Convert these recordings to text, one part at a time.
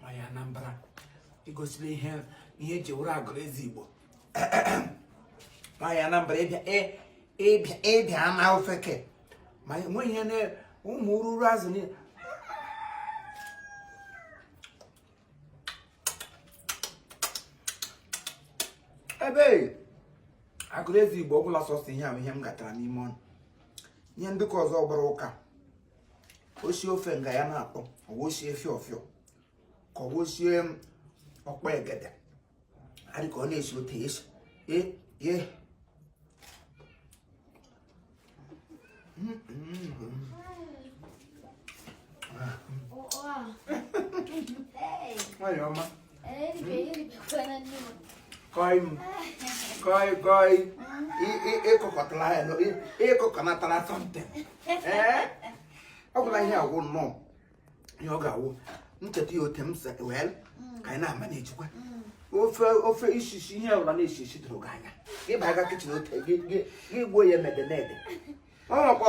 nwaanyị Anambra igosila ihe ihe e ji wụrụ agụrụ ezi Igbo nwaanyị Anambra ịbịa ama ofeke ma enweghị ihe na ụmụ ururu azụ niile ebe agụrụ ezi Igbo ọbụla sọsọ ihe ahụ ihe m gatara n'ime ọnụ ihe ndị ka ọzọ gbara ụka o sie ofe nga ya na-atọ ọ wụ o sie fịọ fịọ ka ọ wụ o sie ọkpọ egede adị ka ọ na-esi ote esi ee ee nwanyị ọma kọị m kọị kọị ịkụkọtara ya ịkụkọnatara something ọ gwụla ihe agwụ nnọọ ihe ọ ga-awụ ncheta ya ote m sị well ka anyị na-managekwa ofe ofe isisi ihe ọbụla na-esi isi doro gị anya ịba aga kitchen ote gị gbuo ya mede mede ọ makwa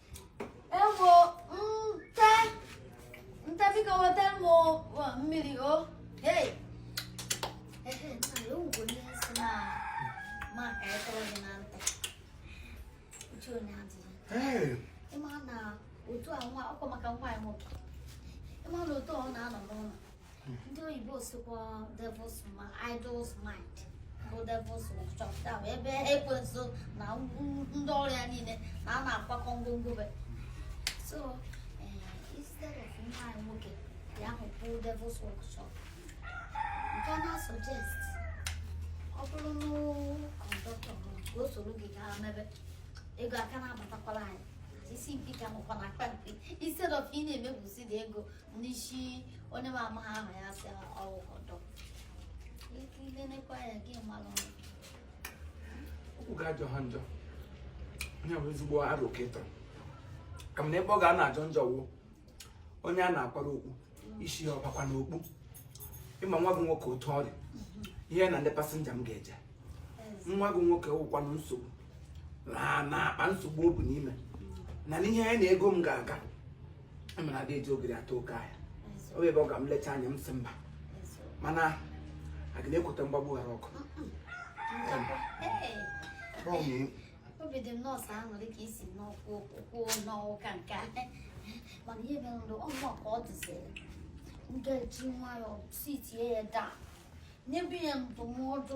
Ewo nta nta biko wetara m mmiri o hey ị ma na otu a nwa ọkwa maka nwa anyị nwoke ị ma na otu ọ na-anọ n'ụlọ ndị oyibo sikwa devil's mind idle mind bụ devil's workshop bụ ebe ekwensu na ndị ọrụ ya niile na a na-akwakọ ngwongwo be so eh, instead of nwa anyị nwoke ya hụpụ devil's workshop nke a na-suggest ọ bụrụ na conductor bụ ka o soro gị gaa mebe ego a ka na-abatakwara anyị isi mpi ka nọkwa n'akpa mpi instead of ị na-emefusị dị ego N'isi onye na-amaghị ama ya sị ọ wụ conductor. Ị lenekwa ya ka ị malụ. Okwu gị ajọghị njọ. Ọ bụ ezigbo aro ka ị tụrụ. Kama na ebe ọ ga na-ajọ njọ wụ onye a na-akwara okwu isi ya ọ bakwa n'okpu. Ị ma nwa gị nwoke otu ọ dị. Ihe ya na ndị passenger m ga-eje. Nwa gị nwoke wụkwanụ nsogbu. Ma na akpa nsogbu o bu n'ime. Na n'ihe ya na ego m ga-aga. mana ada eji ogiri atọ oke ahịa ọ bụ ebe ọ ga m lecha anya m si mba mana agaghị m ekwute mgbagbu ghara ọgụ obi dị m nnọọ sọ aṅụrị ka isi n'ọkwụ ụkwụ n'ọwụka nke a mana ihe mere ndụ ọmụma ka ọ dịziri m ga-eji nwayọọ sitie ya down nyebe ya ndụmọdụ